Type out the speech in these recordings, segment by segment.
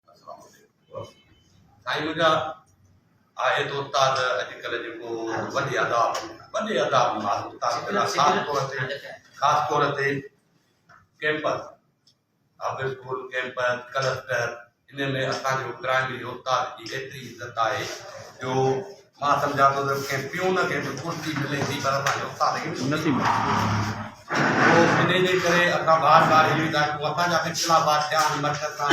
السلام عليڪم سائين منهنجا آهي ته استاد اڄڪلهه جيڪو وڏي ادا وڏي ادا استاد خاص طور تي خاص طور تي campus half school campus cluster ان ۾ اسان جو پرائمري استاد جي ايتري عزت آهي جو مان سمجهان ٿو ته ڪنهن پيون کي به ڪرسي ملي ٿي پر اسان کي استاد کي نه ٿي ملي پوء انهي جي ڪري اسان بار بار اهو ئي ڳالهه پوء اسان جا اختلافات ٿيا آهن مرڪز سان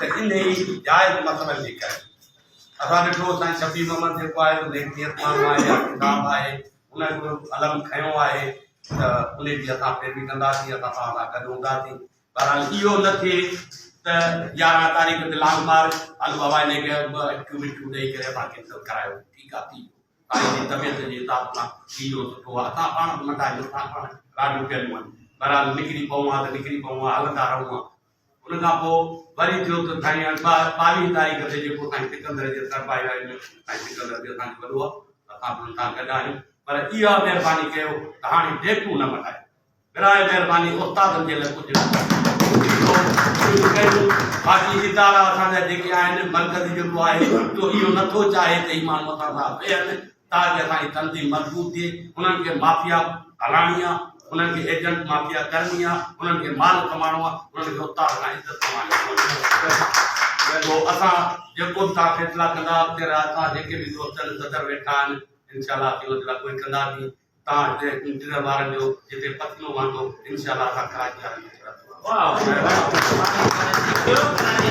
ته انهي جائز مسئلن جي ڪري اسان ڏٺو سائين شفيع محمد جيڪو آهي سو نيڪ نيت ماڻهو آهي يا ڪتاب آهي هن به علم کنيو آهي ته انهي جي اسان پيروي ڪنداسين اسان توهان سان گڏ هونداسين بهرحال اهو نه ٿئي ته يارهن تاريخ تي لانگ مارچ الو هوائي ني ڪيو ٻه اکيون مٺيون ڏئي ڪري اسان کي سر ڪرايو ٺيڪ آ ٿي ويو تاريخي طبيعت جي حساب سان اهو سٺو آ اسان پاڻ به ننڍا آهيون اسان پاڻ راڙيون ڪيون آهن بهرحال نڪري پئون ها ته نڪري پئون ها هلندا رهون ها ان کان پوء وري ٿيو ته سائين هاڻي ٻاويهه تاريخ تي جيڪو سائين سڪندر جي سر پايو آهي ان سائين سڪندر به اسان جو وڏو آ اسان به هن سان گڏ آهيون پر اها مهرباني ڪيو ته هاڻي ڊيٽون نه مٽايو براهه مهرباني استادن جي لاء ڪجهه شروع ڪيو باقي ادارا اسان جا جيڪي آهن مرڪز جيڪو آهي جو اهو نٿو چاهي ته هي ماڻهو اسان سان ويهن تاڪه اسان جي تنظيم مضبوط ٿئي انهن کي مافيا هلائڻي آهي انهن کي ايجنٽ مافيا ڪرڻي آهي انهن کي مال ڪمائڻو آهي انهن کي استاد کان عزت ڪمائڻي جو اسان جيڪو به توهان فيصلا ڪندا اڳتي راه اسان جيڪي به دوست آهن صدر ويٺا آهن انشاء الله اسين ان جي لاء ڪوئي ڪنداسين تان هتي انٽيريئر وارن جو جتي پتلون وهندو انشاء الله اسان ڪراچي وارن کي چوراتو وارو.